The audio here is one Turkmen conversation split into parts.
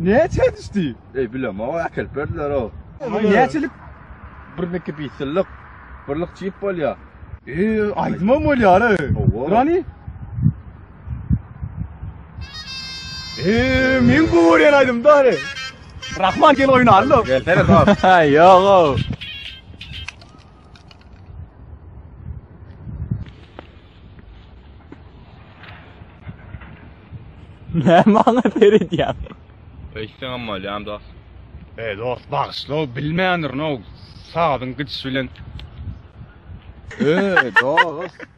Näçe düşdi? Eý bilemok äkelip berdiler o. Näçelik? Birneki bisillik. Birlik çip bolýar. Eý aýdymam bolýar. Durany? Eee, men bu görýän aýdym dary. Rahman gel oýnalyň. Gelsene dost. Ýogo. Ne maňa seredýän? Öýtseň hem bolýan dost. Ey dost bagşyla o bilmändir no sazyň gidişi bilen. Ey dost.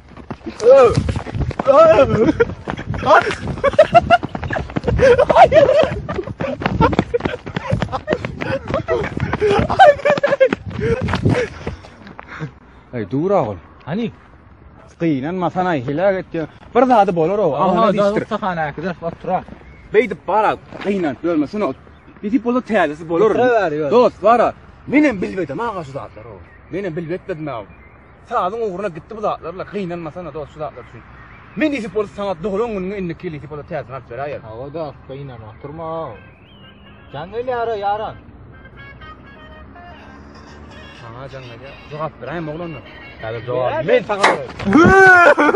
Aý dur agul. Hani? Gynan masan aý hilag etdi. Bir zady bolar o. Aman dişdir. Sahana gider otura. Beýdip bara gynan görme şunu. Bizi bolu täzesi bolar. Dost bara. Menem bilmedim aga şu zatlar o. Menem bilmetmedim aga. Sazyň ugruna gitdi bu zatlar-la, gynanmasana dost şu zatlar üçin. Men nesip bolsa saňa doglan günüňe indiki ýyl nesip bolsa täzesini alyp beräýerin. Hawa dost, gynan oturma. Jaň gelýär-ä ýaran. Saňa jaň gelýär. Jogap beräýme oglanlar. Häzir jogap men saňa bererin.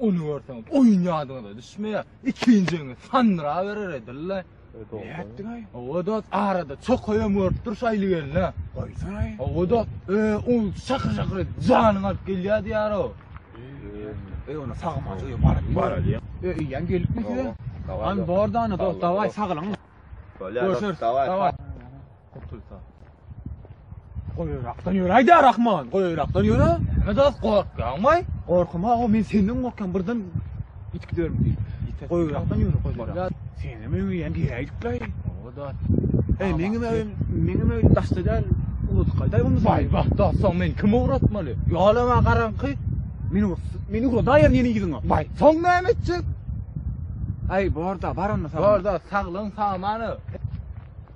Ony görseňiz, oýun ýadyňyza düşmeýär. Ikinjiňiz sandyraberer edil-le. Nätdiň-aý? Hawa dost, arada çokaýam görüp dur şaýly gelne. Goýsan-aý. Hawa dost, e, ol şakyr-şakyr edip janyňy alyp gelýär diýýär-ow. E, onda sagmajy öýe baryp baralyň. E, eýýäm gelipmi size? An bor-da, ana dost, dawaý, saglygyňyz. Bolýar dost, dawaý. Gurtulsa. Goýrakdan ýöre aýda Rahman, goýrakdan ýöre. Näme dost gorkýaň baý? Gorkuma o men senden gorkýan birden ýitip giderim diýip. Ýitip. Goýrakdan ýöre goýrak. Sen hem öňe ýan geýdik baý. O dost. Ey meň hem öýüm, meň hem öýüm daşda däl. Ulut gaýdaý bunu. Baý bax dost, soň men kimi ugratmaly? Ýolama garaňky. Meni meni ugradaýar ýene ýüzüňe. Baý, soň näme etjek? Aý borda, bar onda. Borda, saglygyň samany.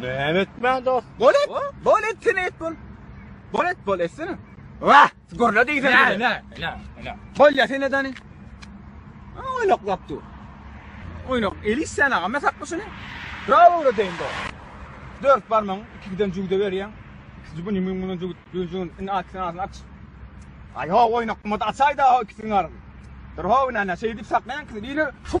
Näme etmän dost? Bol et. Bol et sen et bol. Bol et bol etsene. Wah, gurla diýsen. Näme näme näme näme. Bol ya sen edani. Oynak laptu. Oynak elis sen aga men sakma şunu. Bravo ora deyin dost. Dört barmaň iki giden jügde berýän. Siz bu nimin bunun jügde düzün in at sen aç. Ay ha oynak mada açayda ikisini arın. Dur ha ne ne şey dip saklayan kızı. Yine şu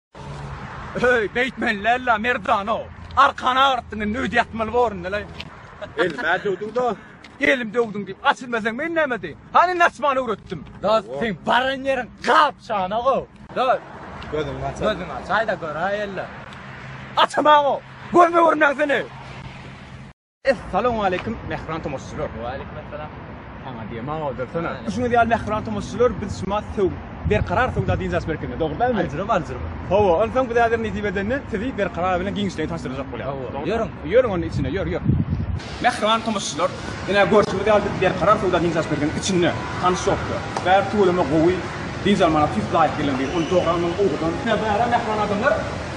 Öý beýtmeli lella merdana arkany agyrtdyň indi öýde ýatmaly borunda le. Elime döwdüň da. Elim döwdüň diýip açylmasaň men näme edeyim. Hany indi açmany öwretdim. Da sen baran ýeriň gap şana go. Da gözüňi aç. Gözüňi aç. Aýda gör aýella. Açamaň o. Gözüme görünmäň seni. Essalawmaleýkim mähriban tomaşaçylar. Waleýkim essalam. Saňa diýe maňa odursana. Düşüniz ýaly mähriban tomaşaçylar biz şuma söw berkarar söwda diýjäs berkinde dogrudanmy? Ajrym ajrym. Hawa, ondan soň biz häzir nesip edende sizi berkarar bilen giňişleýin tanşdyrjak bolýar. Hawa. Ýörüň. Ýörüň onuň içine ýör ýör. Mähriban tomaşaçylar, ine görşüňiz ýaly biz berkarar söwda diýjäs berkinde içinde tanyş ýokdur. Bäri tüweleme gowy, diýjäň maňa tüýs laýyk gelen bir uly doganmyň owudan. Ine bäri mähriban adamlar.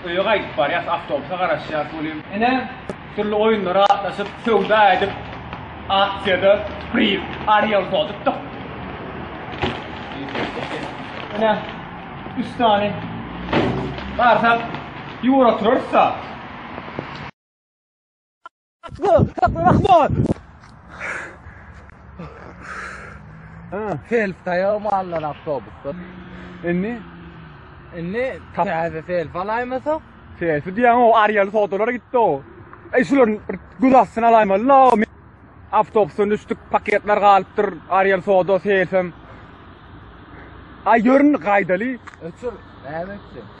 Öýe gaýdyp barýas, awtobusa garaşýas welin, ine, dürli oýunlara gatnaşyp, söwda edip, aksiýada priz, Arielka utupdyk. Ine, üç sany barsak, ýüwür oturarys-da. Self taýaw mallar awtobusda. Indi indi täze self alaýmasak? Self diýen o Ariel sodalara gitdi o. Ey şular göz astyna alaýmaly la. Awtobusdan düşdük, paketler galypdyr. Ariel soda self hem. Ay görün gaydaly. Ötür. Näme etdi?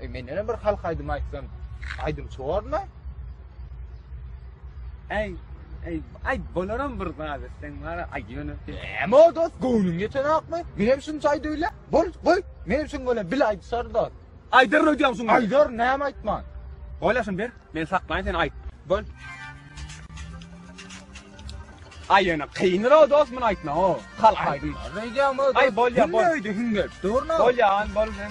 E men ýene bir halk aýdymy aýtsam, aýdymçy bormy? Ey, ey, ay bolaram bir zat etsen bana ay yönü. Hem o dost göwnüň geçen akmy? Men hem şunça ayda öyle. Bol, koy. Men hem şun böyle bil aydı sar dost. Aydar ne diyorsun? Aydar ne hem aytman. Ola şun bir. Men saklayın seni ayt. Bol. Ay yönü kıyınır o dost bunu aytma o. Kalk aydın. Ay bol ya bol. Hüngördü hüngördü. Doğru mu? Bol ya an bol sen.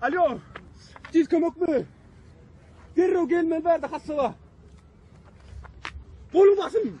Alo, tiz kömek mi? Derrew gelmeli bärde hassaba. Golum basym.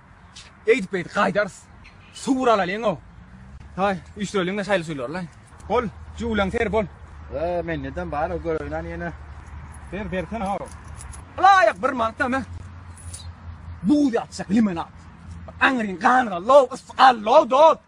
Eýdip-beýdip gaýdarys. Suw alalyň-ow. Haý, üýşüreliň-de şaýly suwlary-laý. Bol, jüwleň ser bol. Be, mende-dem bar-ow, göräýin-ä ýene. Ber, bersene-ow. Ylaýyk bir mant näme? Buz ýatyjak limonad. Aňryň ganyna low, ysy galdy-ow, dost.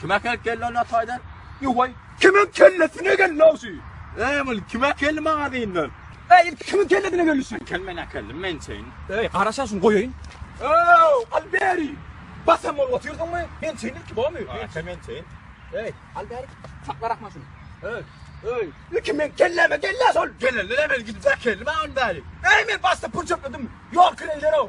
Kime kel kelle ona taýdan? Ýuwaý, kimiň kellesine geldi awşy? Eý, ol kime kelli magazynyň? Eý, ilki kimiň kellesine geldi şu? Kel men akeldim, men çeýin. Eý, garaşa şuny goýaýyn. Ew, al beri. Basam bolup otyrdyňmy? Men çeýin ilki bomy? Ata men çeýin. Eý, al beri. Sakla rahma şuny. Eý, eý, ilki men kelleme kelle sol. Gelende de men gidip akeldim ha onu bäri. Eý, men başda pul çöpledim. Ýol kireýler ow.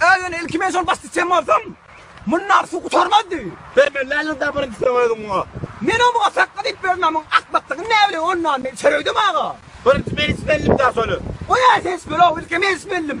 Äýýun ilki men şol başda çem bolsam, mundan suw gutarmazdy. Sen men läliň da birinji sen özüň muňa. Men o muňa sakga diýip bermän muň akmakdygyny näbileýin ondan men çöregdim aga. Birinji men içmeldim da şony. Oýa sen içmeli ow ilki men içmeldim.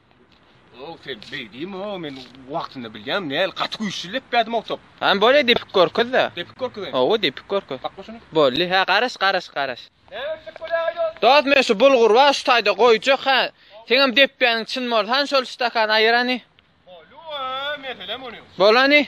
Ow, sen beýdimi o, men wagtynda bilýäm, näl gaty güýçli leppädim o top. Hany bolýa depip görkezde. Depip görkezeýin. Ow, depip görkez. Bak başyny. Boldy, hä garaş, garaş, garaş. Näme etdik bolýa ýok. Dost, men şu bulgur bar, şu taýda goýjak hä. Seňem depýäniň çyn bolsa, hany şol stakany aýyrany. Bolýa, meselem ony. Bolany.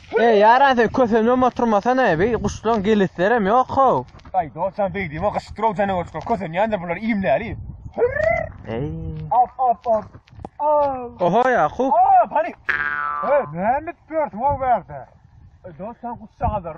Eý ýaran sen kösemem oturmasana eý guşlaň geleslerem ýok how. Aý dostjan beýdime gyşytdyraw janawerçiler kösenýändir bular iýmläli. Eý. Ap ap ap. Aw. Oho Ýakup. Aa pany. Eý näme edip ýörsüň o bärde. Dostjan guşjagazlar.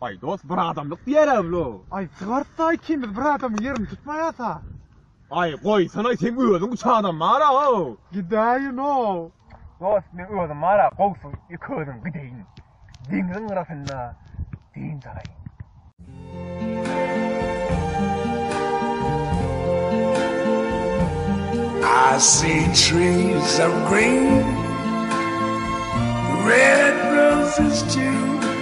Aý dos bir adamlyk diýerämlo. Aý çygartda ikimiz bir adamyň ýerini tutmaýasa. Aý goýsana seň özüň üç adam bara how. Gidäýinow. Dos men özüm bara gowsy iki özüm gideýin. Deňziň gyrasynda dynç alaýyn. I see trees of green, red roses too.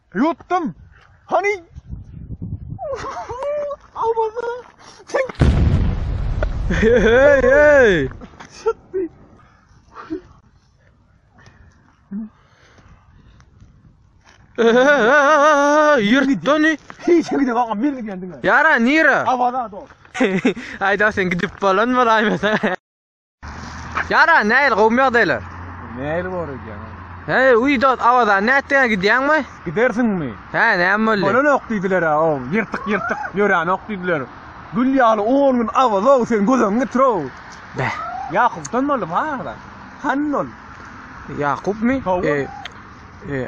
Ýutdum. Hany? Awaza. Hey hey. Çatdy. Ýurtdany. Hiç gidip aga men gidýändim. Ýara nira? Awaza dol. Aýda sen gidip bolan bolaýmasa. Yara näil gowmy ýagdaýlar? Näil bor edýän? He, uýda awadan nätdiňä gidýäňmi? Gidersiňmi? He, näme boldy? Bolanok diýdiler-ä, o ýyrtyk-ýyrtyk ýöränok diýdiler. Gül ýaly on gün awaza-ow, sen göz öňüňe getir-ow. Beh. Ýakupdan boldy bar-da. Hany ol? Ýakupmy? Hawa. E, e,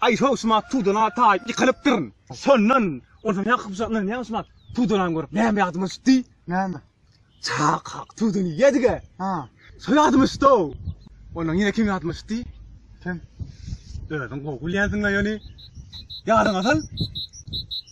Aý Howsmat tudana taýyp ýykylypdyryn. Şondan onsoň ýa Howsatlaryň ýa Howsmat tudanany görüp näme ýadyma düşdi. Näme? Çak hak tudan iýedige. Ha. Şo ýadyma düşdi-ow. Ondan ýene kim ýadyma düşdi? Kim? Özüň gowy bilýänsiň-le ýöne. Ýadyňa sal.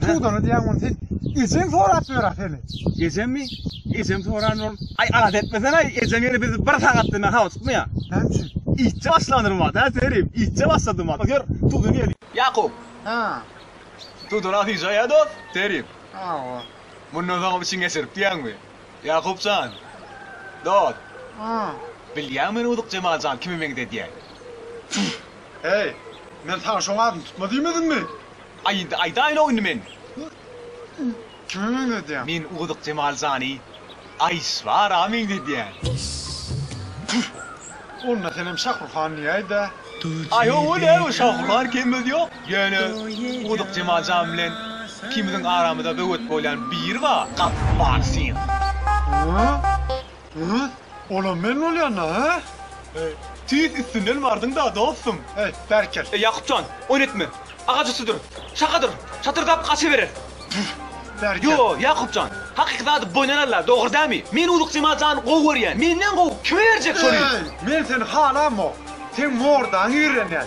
Tudan edýäň muny sen. Ejeň sorap ýör-ä seni. Ejemmi? Ejem soran ol. Aý alat etmesene, ejeň ýene bizi bir sagatda men hawa tutmaýa. Näme üçin? Iýtje başlandyr mat, hä Serim, iýtje başlady mat. Ýör, Tudan gel. Ýakup. Hä. Tudan asyja ýa dost? Serim. Hawa. Mundan soň hem içiň geçirip diýýäňmi? Ýakup jan. Dost. Hä. Bilýäňmi men Udyk Jemal jan kime meňzedýän? Heý, men saňa şoň adyny tutma diýmedimmi? Aýyt, aýdaýyla indi men. Kime meňzedýäň? Men Ugydyk Jemal jany Aýşbara meňzedýän. Püh! Onda senem Şahruhan diýäýdä. Aý hawa-la, Şahruhan kemimiz ýok. Ýöne Ugydyk Jemal jan bilen ikimiziň aramyza böwet bolýan biri bar. Gapyň many sen. Hä? Rus, olam men bolýan-da, hä? He, tüýs üstünden bardyň-da, dostum. He, bärkel. E, Ýakup jan, oýnetme. Agaç üstüdir. Şakadyr. Çatyrdap gaçyberer. Püh, bärkel. Ýo, Ýakup jan, hakyky zady boýun alarlar, dogry dämi? Men Uzuk Jemal jany gowy görýän. Menden gowy kime berjek şony? Eý, men seni halamok. Seň mordaňy ýigrenýän.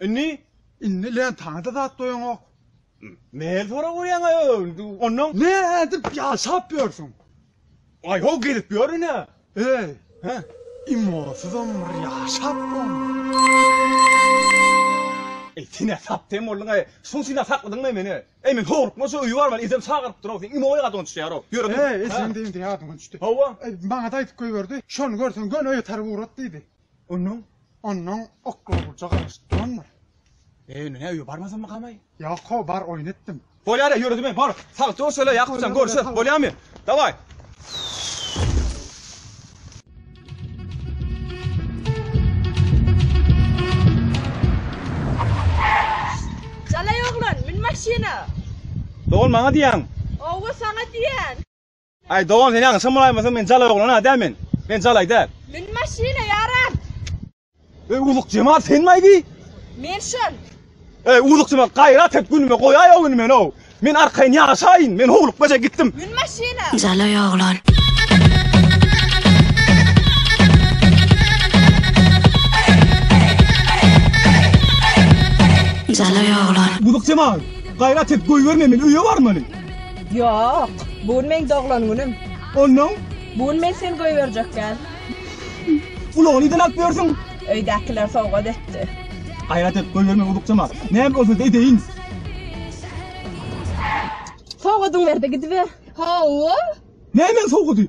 Indi? Indi lentany-da zat goýaňok. Näme sorap ýörýäň-aý indi ondan? Nädip ýaşap ýörsüň? Aý-ho gezip ýörün-ä. Eý, hä, imosyzam bir ýaşap bolmaz. Eý, sen-ä saptem bolduň-aý. Şuň üçin-ä sakladyňm-aý meni? Eý, men howlukman şu öýi barman ejem çagyryp dur-ow, seň imoýyň adyňa düşýär-ow. Ýör otur. Eý, ejem diýen-de ýadyňdan düşdi. Hawa. Eý, maňa-da aýdyp goýberdi. Şony görseň göni öýe tarap ugrat diýdi. Onuň, onnoň oklawlyja garaşyp durandyr. Eý, indi näüýe, barmasamykamay? Ýok-ow, bar, oýun etdim. Bolýar-a, ýöre diýme, bar. Sag dur şeýle, Ýakup jan, görüşeris, bolýamy? Dawaý! Jalaý oglan, mün maşyna! Dogan, maňa diýýäňmi? Ow-we, saňa diýýän. Aý dogan sen ýaňyşam bolaýmasyn men jalaý oglan a däl men men jalaý däl. Mün maşyna ýaram. Öý uzuk jemal senmi aýdy. Men şol. Öý uzuk jemal gaýrat et günüme goýaý o güni men o. Men arkaýyn ýaşaýyn men howluk beje gitdim. Mün maşyna. Jalaý oglan. Jalaý oglan. Uzuk jemal gaýrat et goýberme men öýe barmaly. Ýok, bu gün meň doglan günüm. Onnoň? Bu gün men seni goýberjekgän. Ulagy nirden alyp ýörsüň? Öýdäkiler sowgat etdi. Gaýrat et, goýberme uzukjama. Näme bolsa-da edeýin. Sowgadyňy ber-de gidiber. Hawa. Nämäň sowgady?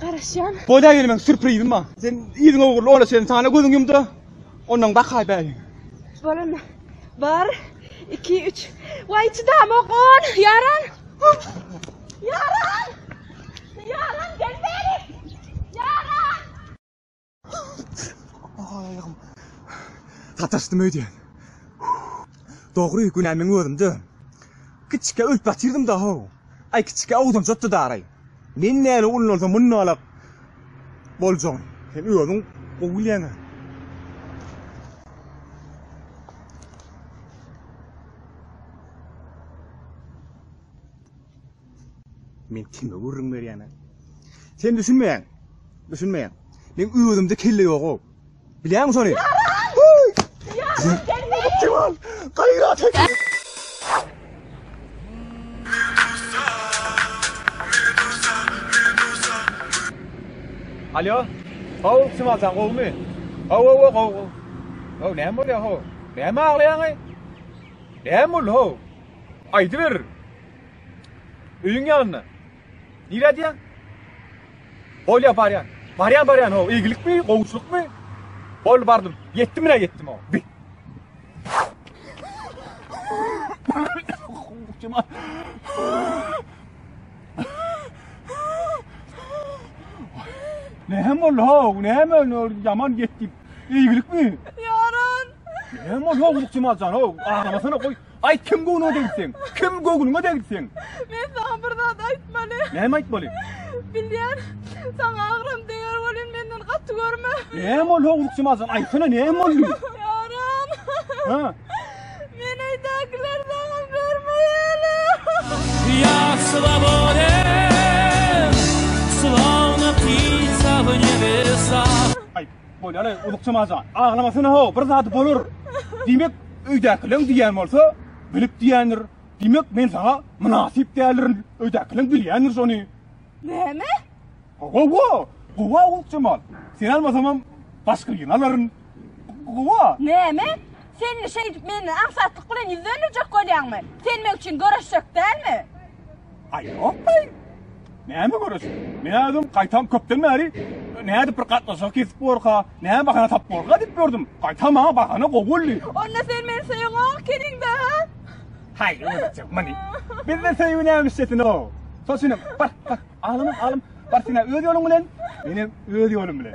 Garaşýan. Bolýa ýene meň sürprizim bar. Sen ýüzüň ogurly ola çen sana gözüň ýumda. Ondan bakaý bäri. Bolanda. Bar. 2 3. Waý çydamok on. Ýaran. Ýaran. Ýaran gel bäri. Ýaran. Aýagym. Sataşdym öýdýän. Dogry, günä meň özümde. Kiçikä ölüp ýatyrdym da-how. Aý, kiçikä ogdanjykdy daraý. Men näle ullansa munnalak boljagyn. Sen özüň gowy bilýäň-ä. Men kime gürrüň berýän? Sen düşünmeýäň. Düşünmeýäň. Men özümde kelle ýog-ow. Bilýäňmi şony? Kemal, gaýrat et. Alýo. How, kim alsaň gowumy? How, how, how, how. How, näme bolýar how? Näme aglaýaň-aý? Näme boldy how? Aýdyber. Öýüň ýanynda. Nirä diýýän? Bolýa barýan. Barýan barýan ho, eýgilikmi, gowuçylykmy? Bol bardym. Ýetdim nä ýetdim ho. Bi. Kima? Näme boldy ho? Näme oldu? Yaman gitdi. Eýgilikmi? Yaran. Näme oldu ho? Kima jan ho? Ağlamasana koy. Aýt kim göwnüňe degsin? Kim göwnüňe degsin? Men saňa bir zat aýtmaly. Näme aýtmaly? Bilýän, saňa agram deger bolýan menden gaty görme. Näme ol howlukçy mazan? Aýtsana näme boldy? Ýaran. Ha? Men öýdäkiler saňa bermeýäle. Ýa slobode. Slowna pizza w nebesa. Aýt. Bolýar-aý, Uzukçam aja. Aglamasyna-how, bir zady bolar. Diýmek, öýdäkileriň diýýän bolsa, bilip diýýändir. Diýmek, men saňa mynasyp däldirin. Öýdäkileriň bilýändir şony. Näme? Gowa, gowa Uzukjamal. Seni almasamam, başga birini alaryn. Gowa. Näme? Sen indi şeýdip menden aňsatlyk bilen ýüz dönderjek bolýaňmy? Sen meň üçin göreşjek dälmi? Aý, ýok-aý. Näme göreş? Men özüm gaýtam köpden bäri nädip bir gatnaşyk kesip borka, näme bahana tap borka diýip gördüm. Gaýtam maňa bahana gowy boldy. Onda sen meni söýüňok keniňde, ha? Haý, özüm meni. Bizde söýgi näme işlesin o? Soşunyň, bar, bar, alym, alym, bar sen özü ýoluň bilen, menem öz ýolum bilen.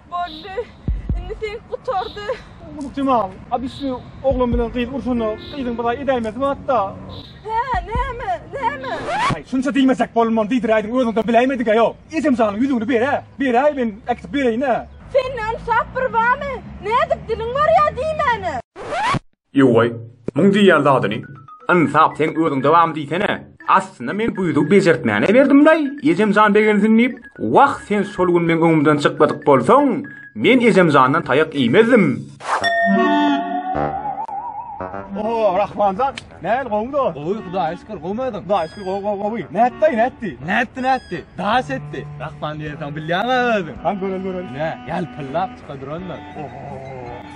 Boldy. Indi seňki gutardy. Unup Jemal, a biz şu oglan bilen gyz urşanda gyzyň bir zaý edäýmesi barda. Hä, näme, näme? Aý, şunça diýmesek bolman diýdiräýdiň, özüňden biläýmedik-ä ýok. Ejemjanyň ýüzügini ber-ä, beräý men äkitip bereýin-ä. Sende ynsap bir barmy? Nädip diliň barýa diýmäne. Ýow-aý, muň diýýän zadyny. Ynsap, seň özüň dowam diýsene. Aslynda men bu ýüzügi bejertmäne berdim-laý, ejem jan begensin diýip. Wah, sen şol gün meň öňümden çykmadyk bolsaň, men ejem jandan taýak iýmezdim. O-o, Rahman jan, nähili, gowumy dost? Gowy, Hudaýa şükür, gowmy özüň? Hudaýa şükür, gowy, gowy, gowy. Nätdi, daýy, nätdi? Nätdi, nätdi? Daş etdi. Rahman diýensoň bilýäň-ä özüň. Han, göreli, göreli. Nä, ýalpyldap çyka durandyr. O-o-o!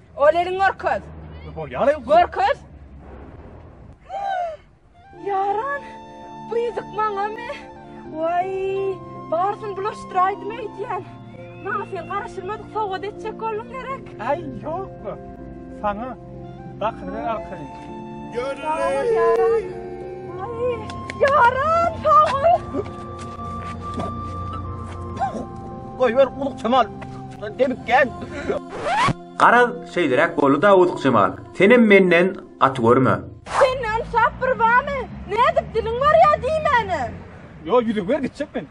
Ol elin görkez. Görkez. Yaran, bu ýüzük maňa mi? Waý, barsyn bulaşdyraýdym eýdýän. Maňa sen garaşylmadyk sowgat etjek bolduň gerek. Ay yok. Sana dakylgan arkaly. Garaz, şeýleräk boldy-da Uzukjemal, senem menden gaty görme. Sende ynsap bir bamy? Nädip diliň barýa diýmäne? Ýo, ýüzüňi ber, gitjek men.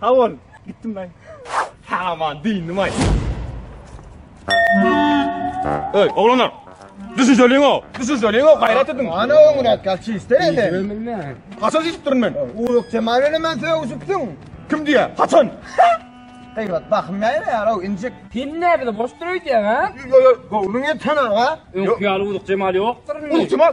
Sag bol. Gitdim men. Aman dyndymaý. Öý, oglanlar. Düşünjeliň o. Düşünjeliň o, gaýrat ediň. Ana öňüne atgal çiste ene. Ömürme. Haçan içip durun men? Uýuk temar ene men söýüp içipsiň. Kim diýä? Haçan? Gaýrat bahym näme ýar o injik. Sen ne bizi boş duruýdyň ha? Yo yo, gowluň et sana ha. Öňki ýaly uzuk jemal ýokdur. Uzuk jemal.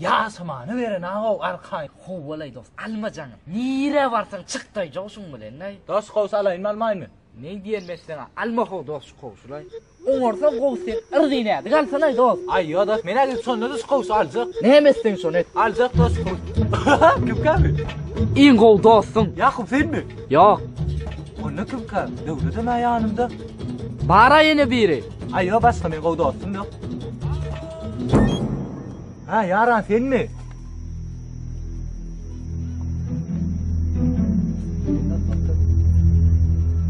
Ýaşamany beren agow arkaýyn howwalaý dos alma jaňy nirä barsaň çyk daý jowşuň bilen daý. Dos gowsy alaýynmy almaýmy. Neý diýenimi etseňä alma how dos şu kowşulaý. Oňarsaň gowy sen yrdyn ädik alsanaý dos. Aý ýo dos men ädim şonda da şu kowşy aljak. Näme etseň şony et. Aljak dos şu kowşy. Kim käbir. Iň gowy dostuň. Ýakup senmi. Ýok. Onda kim käbir. Döwledem ä ýanymda. Bara ýene biri. Aý ýo başga men gowy dostum ýok. Ha yaran sen mi?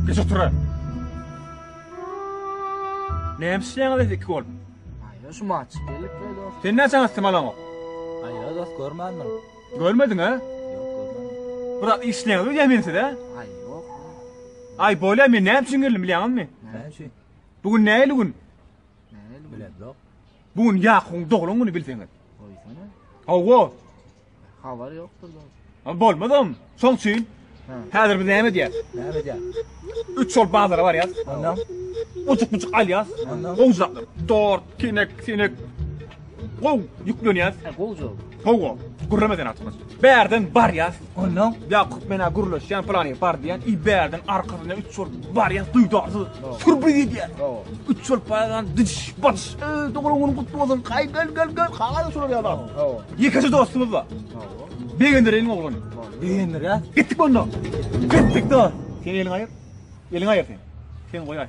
Geç otura. Ne işleýäňiz biz iki bolup? Aýa şu maç gelip böyle olsun. Sen näçe astym alaň o? Aýa dost görmändim. Görmediň ha? Yok görmändim. Bura işleýäňiz biz ýemin size. Ay yok. Ay bolýa men näme üçin geldim bilýäňizmi? Ne şey? Bugün näli gün? Ne öyle? Bilen yok. Bu gün Ýakubyň doglan güni bilseňiz. Goýsana. Hawa. Habar ýokdur da. Ha bolmadam. Şoň üçin häzir biz näme edýäs? Näme edýäs? Üç şol bazara barýas. Ondan uçuk-uçuk alýas. Ondan gowjak. Dort, kinek, sinek. Gow ýüklenýäs. Gowjak. Hawa, gürleme sen atmaz. Bärden barýas, ondan Ýakup menä gürleşýän plany bar diýen, i bärden arkasyna üç ol barýas duýdarsyz. Sürbi gidýär. Üç ol paýan diş baş. Dogry gün gutly bolsun. Kaý gel gel gel. Kaý şular ýalar. Ýekeje dostumyz bar. Begendireýin oglan. Begendirä. Gitdik onda. Gitdik dost. Sen eliň aýyr. Eliň aýyr sen. Sen goýaý.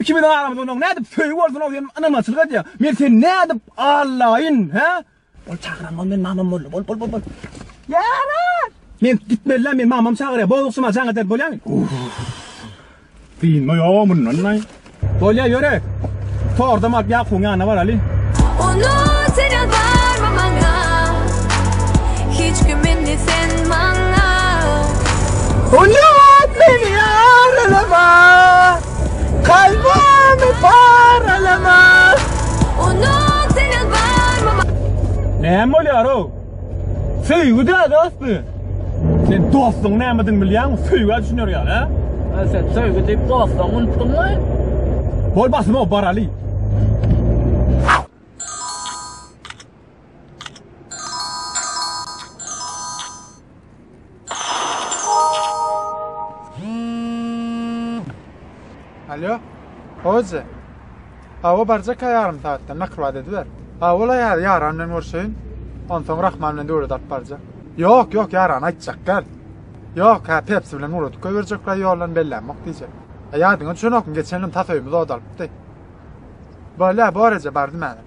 Iki biziň aramyzda onuň nädip söýgi bolsun ol sen ynamaçylyk edýäň. Men sen nädip allaýyn, hä? Ol çagyran ol men mamam boldy. Bol bol bol bol. Ýara! Men gitmelilä men mamam çagyrýar. Bozukşyma jaň eder bolýamy? Dynma ýa mundan naý. Bolýa ýöre. Tordam alyp Ýakubyň ýanyna baraly. Onu sen ýalbarma maňa. Hiç kim indi sen maňa Hülýat meni ýaralama Kalbymy paralama Unut seni barmama Näme bolýar-ow? Söýgi däl asly. Sen dostuň nämedigini bilýäňmi? Söýgä düşüner ýaly, hä? Ha sen söýgi diýip dostlaryňy unutdyňmy? Bol basym-ow, baraly. Alo. Hoca. Awa barjak ýarym saatda nakyl wada ediber. Awala ýar ýaran bilen görşeýin. Onsoň Rahman bilen döwlet alyp barjak. Ýok, ýok ýaran aýtjak gel. Ýok, ha Pepsi bilen urutk goýberjekler ýoldan bellämok diýjek. Ýadyňa düşenokmy geçen ýyl tasoýumyz odalypdy. Bolýa, boraja bardym häzir.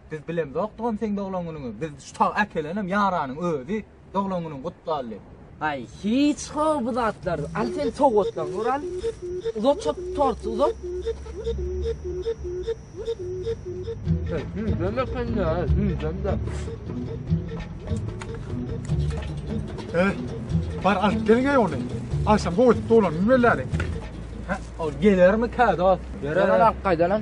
Biz bilemzokdygam seň doglan günüňi, biz şu taga äkelenem ýaranyň özi, doglan günüň gutly Ally. Aý, hiç how bu zatlar. Al sen sowgatlaň ur al. Uzat şo torty uzat. Düýdem ekende, düýdemde. Eh, bar alyp geliň ey ony. Agşam goýup dolan bilmeläli. Ha, o gelermi kä dost? Ýörer alak gaýdalan.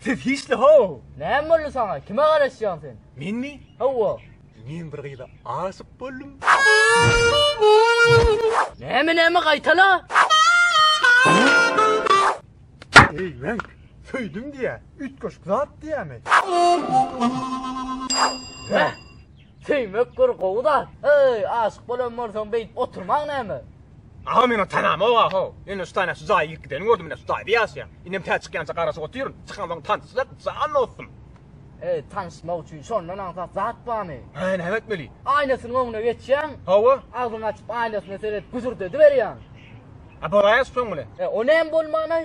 Siz hiçli how! Näme boldy saňa? Kime garaşýaň sen? Menmi? Hawa. Men bir gyza aşyk boldum. Näme näme gaýtala? Eý men söýdüm diýä, üýtgeşik zat diýämi? Heh. Söýmek bir gowy zat. Heý, aşyk bolan bolsaň beýdip oturmaň näme? Aga meň tanamok ahow. Ýöne şu taýda şu jaýa girip gidenini gördüm ine şu taýda ýaşaýan. Indem tä çykýança garaşyp otyryn. Çykansoň tanyşsak jan dostum. Heý, tanyşmak üçin şondan aňsat zat barmy? Hä, näme etmeli? Aýnasynyň öňüne geçýäň. Hawa. Agzyňy açyp aýnasyna seredip güzürdediberýäň. A bolaýaş soň bilen. E, o näme bolman-aý?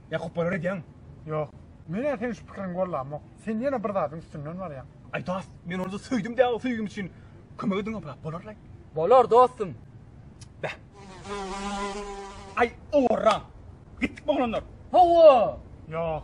Ýa kupbalar edýäňmi? Ýok. Men-ä seniň şu pikiriňi gollamok. Sen ýene bir zadyň üstünden barýaň. Aý dost, men onda söýdim däl, söýgim üçin kömek ediň obrap bolarlaý. Bolar dostum. Bä. Aý owarra. Gitdikmi oglanlar? Hawa. Ýok.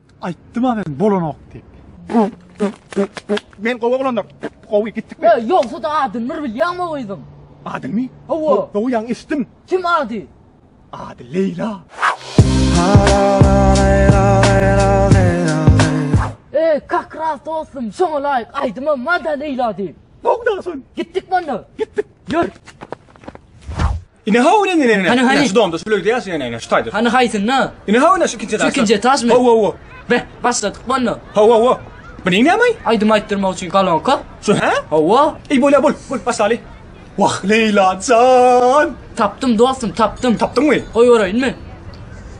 Aýtdym-a men bolanok diýip. Men gowy oglandyr. Gowy gitdikmi? Ýa ýogsa-da adyny bir bilýäňmi o gyzyň? Adyny? Hawa. Gowy ýaňy eşitdim. Kim ady? Ady Leýla. E, kak ras dostum, şoňa laýyk aýdymam bar-da Leýla diýip. Gowy daşyn. Gitdikmi onda? Gitdik. Ýör. Ine haw ine ine ine. Hany, hany. Ine şu domda şu plöýde ýaşaýan ine ine şu taýda. Hany haýsynda? Ine haw ine şu ikinji etaşda. ikinji etaşmy? Haw haw haw. Be, başladyk bolna. Haw haw haw. Bu neýin näme? Aýdym aýtdyrmak üçin kolonka. Şu hä? Hawa, Ey bolya bol, bol başlaly. Wah Leyla can. tapdym dostum, tapdym. Tapdyňmy? Goýbereýinmi?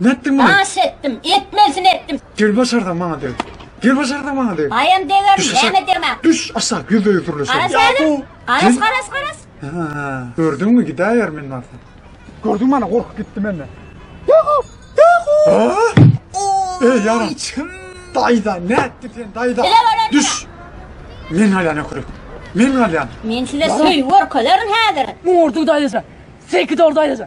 Nätdiň muny? Aş etdim, etmelisini etdim. Gel başarsaň maňa deg. Gel başarsaň maňa deg. Aýam degerin, Düş aşak. näme degmä? Düş aşak, ýüzde ýüz dürleşelim. Garaz Ýa häzir. bu- Garaz, garaz, garaz. Ha, gördüňmi gidäýer men barsa. Gördüň mana gorkup gitdi menden. Ha? Ey yaram. Içim. Dayda ne etti sen dayda? Bile var etti. Düş. Men halyan okuruk. Men halyan. Men size söýgi görkezerin häzir. Murdu daýysa. Seki dor daýysa.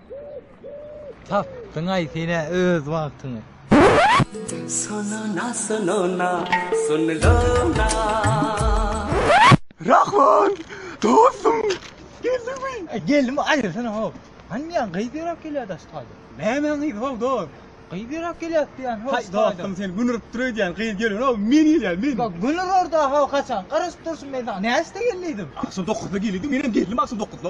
Tapdyňaý senä öz wagtyňy. Sununa sununa sunluna. Rahman dostum geldiňmi. Geldim aýyrsana how. Hany diýen gyz ýöräp gelýär daş taýda. Näme gyz how dos. Gyz ýöräp gelýär diýen how. Haý dostum sen gün urup dur öýdýän gyz gelmän how men gelýär men. Bak gün urarda how haçan garaşyp durşum men saňa näçde gel diýdim. Agşam dokuzda gel diýdim menem geldim agşam dokuzda.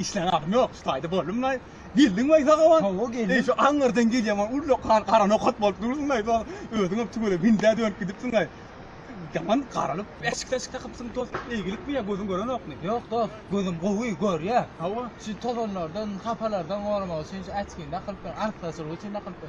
işlän adam ýok. Şu taýda boldum laý. Geldiň we sagawan. Hawa geldim. Eý şu aňyrdan gelýän ol ulla kar gara nokat bolup durdyň laý. Soň özüň hem tüwele bindä dönüp gidipsiň laý. Yaman garalyp. Eşik eşik takypsyň dost. Eýgilik mi ya gözün gören okmy? Yok dost. Gözüm gowy gör ya. Hawa. Şu tozanlardan, hapalardan gormak üçin şu açkini dakylyp dur. Artlaşyk üçin dakylyp dur.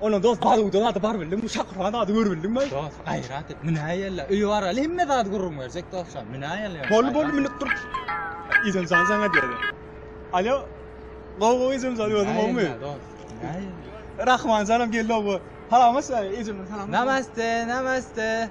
Onuň dost Baluda zady bar bildim, bu Şakurhan zady gör bildim ben. Dost gaýrat et, münäýella. Öýe baraly hemme zady gürrüň berjek dostlar. Münäýella. Bol bol münüp dur. Izemjan saňa diýdi. Alo. Gowy gowy Izemjan özüň gowmy? Rahmanjanam geldi owa. Salam aşa, Izemjan salam. Namaste, namaste.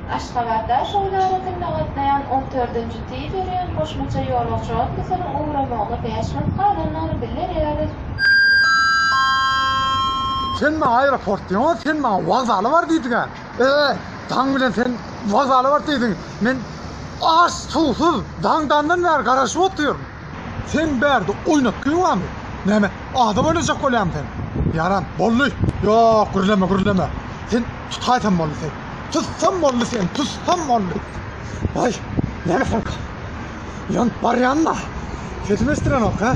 Aşgabatdan Şowly arasynda gatnaýan on dördünji tiz ýörýän goşmaça ýolagçy otlusynyň ugramagyna bäş minut galandygyny bildirýäris. Sen maňa aeroport diýeňok, sen maňa wokzala bar diýdiň-ä. Eee, daň bilen sen wokzala bar diýdiň. Men aç, suwsuz, daň-dandan bäri garaşyp otyryn. Sen bärde oýnatgyň barmy? Näme, adam oýnajak bolýaňmy sen? Ýaran, boldy! Ýok, gürleme, gürleme! Sen tutaýsam boldy sen! Tutsam boldy sen, tutsam boldy! Aý, näme soňka? Ýanyp barýan-da! Sesimi eşdirenok, hä?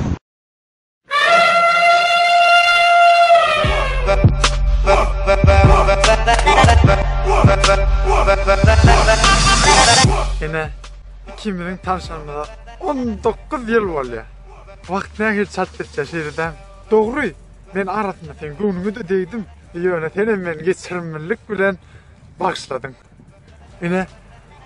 Ine, ikimiziň tanşanymyza 19 ýyl bolýar. Wagt nähili çalt geçýär, şeýle däl. Dogry, men arasynda seň göwnüňe-de degdim. Ýöne senem meni geçirimlilik bilen bagyşladyň. Ine,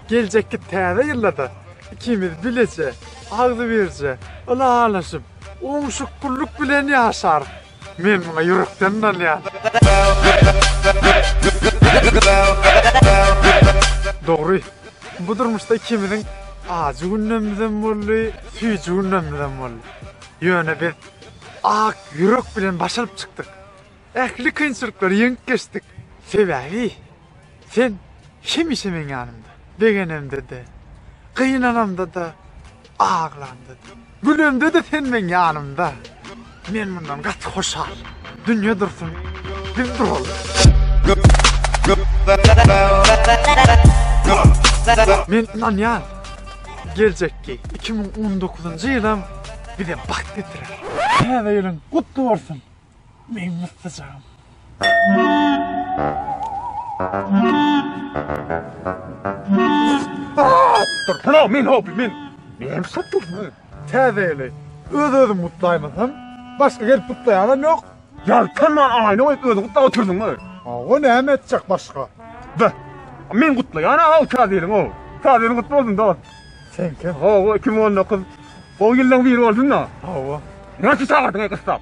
geljekki täze ýylda-da ikimiz bileje, agzybirje, ylalaşyp, oňşukgünlik bilen ýaşarys. Men muňa ýürekden ynanýan. Dogry, bu durmuşda ikimiziň ajy günlemizem boldy, süýji günlemizem boldy. Ýöne biz ak ýürek bilen baş alyp çykdyk. Ähli kynçylyklary ýeňip geçdik. Sebäbi. Sen hemişe meň ýanymda, begenemde-de, gynanamda-da, aglamda-da, gülemde-de sen meň ýanymda. Men mundan gaty hoşal. Dünýe dursun, biz duralyň. Men ynanýan, geljekki 2019-njy ýylam bize bagt getirer. Täze ýylyň gutly bolsun! Meň myssajygym. Dur, pula, men hobi, men. Men şatdyrsın. Täzeýeli. Öz-özüm gutlaýmasam, başga gelip gutlaýanam ýok. Ýal, tamman aýna goýup özüň gutlap oturdyňmy? Hawa, näme etjek başga? Da, men gutlaýan aw täzeýeliň o. Täzeýeliň gutly bolsun, dost. Seňkem. Hawa, 2019 gowy ýyllaryň biri bolsun-da. Hawa. Näçe çagyrdyň-aý gyssap?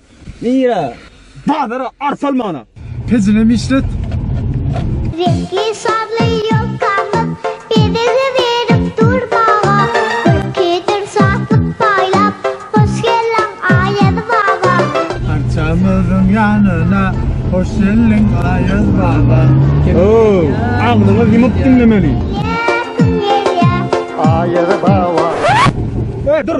Nirä? Bazara arsa almana. Pejinem işlet. Reňkli şally ýolkamyz biziňi berip dur baba. Gülkidir şatlyk paýlap, hoş geldiň Aýaz baba. Arçamyzyň ýanyna, hoş geldiň Aýaz baba. Ow, agzyňyz ýumup diňlemeli. Gelýär, kim gelýär? Aýaz baba. Dur!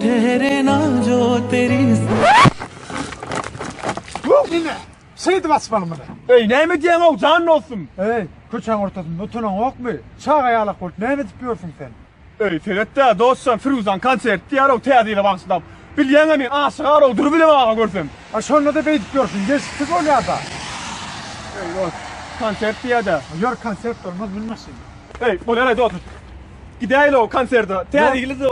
Tere najo teris. Nine, şeýdip açmaly muny. Eý, näme edýäň-ow, jan dostum? Eý, köçäň ortasynda utanaňokmy? Çaga ýalak bolup näme edip ýörsüň sen? Eý, seret-dä, dostjan, Firuzan konsert diýýär-ow, täze ýyla bagyşlap. Bilýäň-ä men aşygar-ow, durup bilemok aga görsem. A şonda-da beýdip ýörsüň, gelşiksiz bolýar-da. Eý, dost, konsert diýýä-dä. Ýör, konsert bolmaz, mün maşyna. Eý, bolýar-aý, dost. Gidäýeli o konserde. Täze ýyly da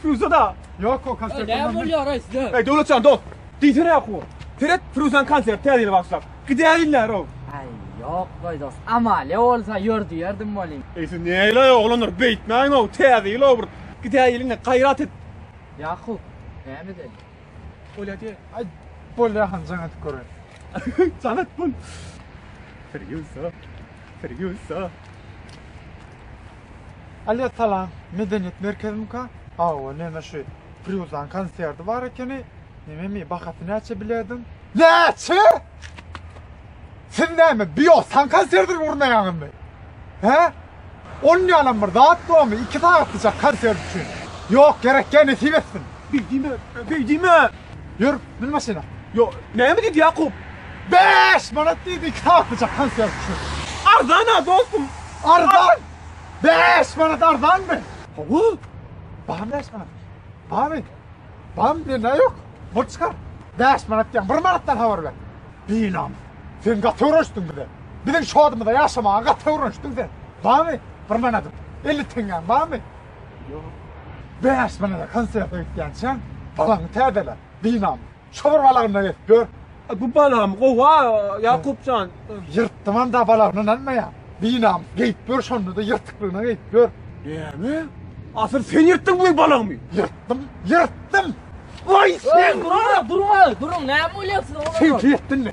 Firuza da. Ýok o konsert. Näme bolýar aý size? Aý Döwletjan dost. Diýsene ýaku. Seret Firuzan konsert täze ýyla bagyşlap. Gidäýeli näre o. Aý ýok goý dost. Amalia bolsa ýör diýerdim welin. Eý siz näle oglanlar beýtmäň o täze ýyl o bir gidäýeliňä gaýrat et. Ýaku näme edeli? Bolýa diýe. Aý bolýa han jaň edip göräý. Jaň et bol. Firuza. Firuza. Alýa salam medeniýet merkezimika hawa neme şu Frýuzan konserdi bar ekeni nememi bahasy näçe biledim näçe siz näme biosan konserdini gurnaýaňyzmy he on ýalam bir zat bormy iki sagatlyjak konsert üçin ýok gerek gel nesip etsin. Beý diýme, beý diýme! Ýör, min maşyna! Ýok, näme diýdi Ýakup? Bäş manat diýdi, iki saplyja konfet düşür. Arzan-a, dostum! Arzan! Bäş manat arzanmy? Hawa, bar bäş manat. Barmy? Barmy, mende ýok. Bul çykar. Bäş manat diýýäň, bir manatdan habar ber. Binamys! Sen gaty öwrenişdiň bize. Biziň şodymyzda ýaşamaga gaty öwrenişdiň sen. Barmy, bir manadym? Elli teňňäň barmy? Bäş manada konsert öýtýänçä, balaňy täzele, dynam. Şo bir balagynda gezip ýör. Bu balagym gowa, Ýakup jan. Ýyrtdymam-da balagyny ynanmaýan. Dynam, geýip ýör şonda-da ýyrtyklygyna geýip ýör. Näme? Asyl sen ýyrtdyň bu balagymy? Ýyrtdym, ýyrtdym! Waý sen! Durun, durun, durun, näme bolýar size? Sen ýetdinmi?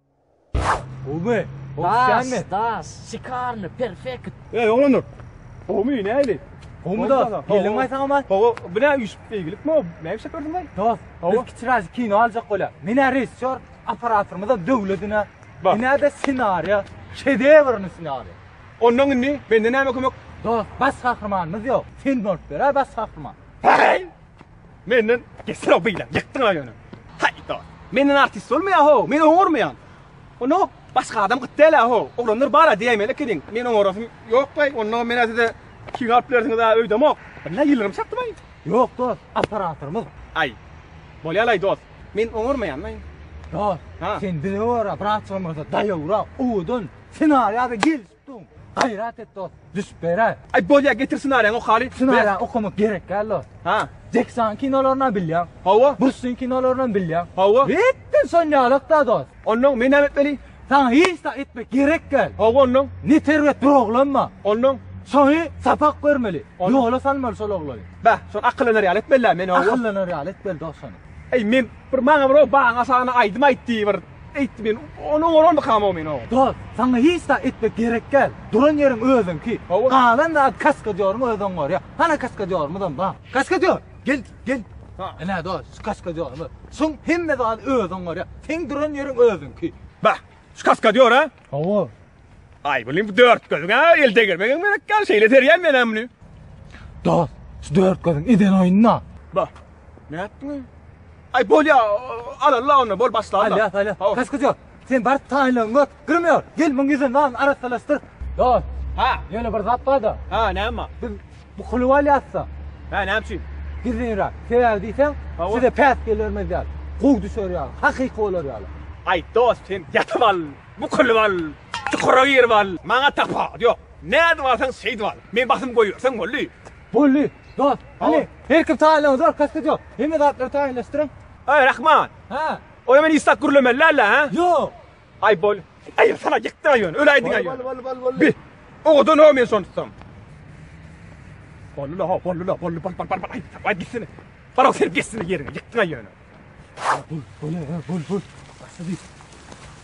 Gowymy? Das, das, şikarny, perfekt. Ey, oglanlar. Gowymy, näli? Gowymy da? Gelin gaýsa ama. Gowy, bu ne üýşüp beýgilikmi? Näme işe berdiň gaý? Das, biz kiçiräk kino aljak bolýar. Menä rejissýor apparatymyza döwledine. Menä-de ssenariýa, şedewrni ssenariýa. Ondan indi menden näme kömek? Das, baş gahrymanymyz ýok. Sen bolup ber-ä baş gahryman. Heý! Menden geçsene beýle. Ýykdyň aýony. Haýda. Menden artist bolmaýa ho. Men oňarmaýan. Onda hop başga adam gyt däl ho. Oglanlar bara diýmeli ekeniň. Men oňarasym ýok baý. Onda men size iki galp berdiňiz ha öýdemok. Billa ýylgyrym çakdy baý. Ýok dos. Operatorymyz. Aý. Bolýalaý dos. Men oňarmaýan baý. Dos. Sen bize gora brat bolmasa daýowra owadan senarýa gel. Tutdum. Gaýrat et dost, düşüp berä. Aý bolýa getir ssenariýaňy okaly. Ssenariýa okamak gerek däl dost. Ha. Jackson kinolaryny bilýän. Hawa. Brusin kinolaryny bilýän. Hawa. Etden son ýalak da dost. Ondan men näme etmeli? Saňa hiç zat etmek gerek däl. Hawa ondan. Ne terbiýe dur oglanma. Ondan. Şoňy sapak bermeli. Ýola salmaly şol oglany. Bä, şol akyllylar ýaly etmeli men oglany. Akyllylar ýaly etmeli dost şony. Eý men bir maňa bir o baňa sana aýdym aýtdy bir. Eýtdi men, Ony oňararmykam o men o? Dost, saňa hiç zat etmek gerekgäl. Duran ýeriň özüňki. Galan zady kaskadýoryň özi oňarýar. Hana kaskadýorymyzam bar. Kaskadýor, gel, gel. Ine, dost, şu kaskadýorymyz. Şuň hemme zady özi oňarýar. Seň duran ýeriň özüňki. Bah, şu kaskadýor-a? Hawa. Ay bulim bu dört gözün ha el degermegiň gerek gal şeyle serýän men hem bunu. Dost, şu dört gözün eden oyunna. Ba. Ne yaptın? Ay bol ya al Allah onu bol başla Allah. Alya alya. Hava. Kaç kızıyor. Sen bar taýlan gök. Gürmüyor. Gel muň ýüzüni lan arassalaşdyr. Dost, Ha. ýöne bir zat bar da. Ha ne ama? Biz bu kuly alýatsa, Ha ne yapayım? gizlinrak. Sebäbi diýseň, Hawa. size päs gelermez ýaly. Gow düşer ýaly, hakyky bolar ýaly. Ay dost sen yatıp al. Bu kül bal, çukura gir bal. Maňa tapa ýok. Nädip alsaň şeýdip al. Men basym goýberseň boldy. Boldy, dost. Hany, her kim taýynlygyny görkezip gidýär. Hemme zatlary taýynlaşdyryň. Aý, Rahman. Hä? Ony men isläp gürlemeli däl-ä, hä? Ýok. Aý, bol. Aý, sana ýykdy-aý ýöne, öläýdiň-aý ýöne. Bol, bol, bol. Bi, owadan-a men şony tutsam. Boldy-la, boldy-la, boldy, bol, bol, bol, aý, aý, gitsene. Barak serip geçsene ýeriňe, ýykdyň-aý ýöne.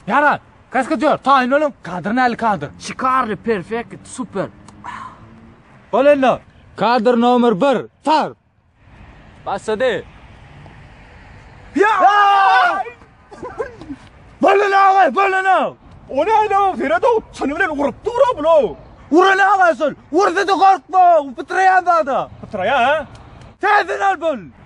Ýara, kaskadýor, taýyn boluň, kadr näli kadr? Şikarly, perfekt, super. Bolenda. Kadr nomer 1, start! Başlady. Bolun aga, bolun aga. O näde o Feredo? Çany bilen urup dura bulo. Uran aga şol. Ursa da gorkma, pytraýan zada. Pytraýa ha? Täzeden al bol.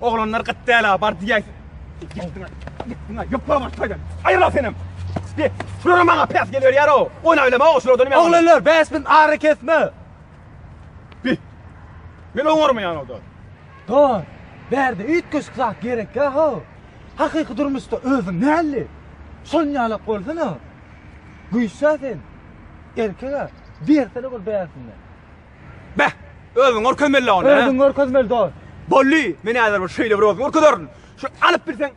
Oglanlar gyt däla bar diýäýsin. Ýetdiňä, ýetdiňä, ýokla bar toýdan. Aýyl-a senem. Be, şulara maňa päs geliberýär-o. Oýna bilem-ow şulardan men. Oglanlar, bäş min ara kesme. Be, men oňarmaýan-ow-da. Dor, bärde üýtgeşik zat gerekýä-how. Hakyky durmuşda özüň näli? Şonuň ýalak bolsana. Güýç-ä sen. Erkek-ä. Bersene bir bärsinden. Beh, özüň görkezmeli onda. Özüň görkezmeli dost. Bolly, men häzir bir şeýle bir özüm görkezerin. Şu alyp bilseň.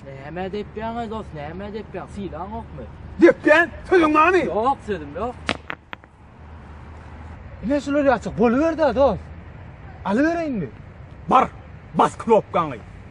Näme depýäň, dost, näme depýäň? Sylaň ýokmy? Depýän, sözüň barmy? Ýok, sözüm ýok. Ine şular ýaçyk boluberdi-ä dost. Alybereýinmi? Bar, bas knopkaňy.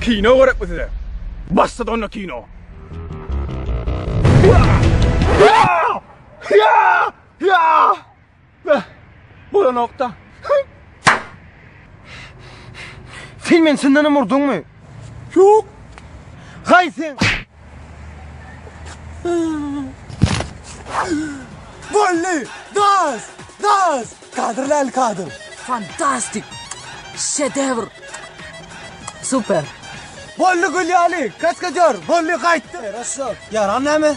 Kino gerekmi size? Başladyk onda kino. Bolanokda. Sen meni çyndanam urduňmy? Ýok. Gaý sen. Bolly! Das! Das! Kadrli el kadr. Fantastik! Şedevr! Super! Bolly gül ýaly, kaskadýor, bolly gaýtdy. Herasso. Ýaran näme?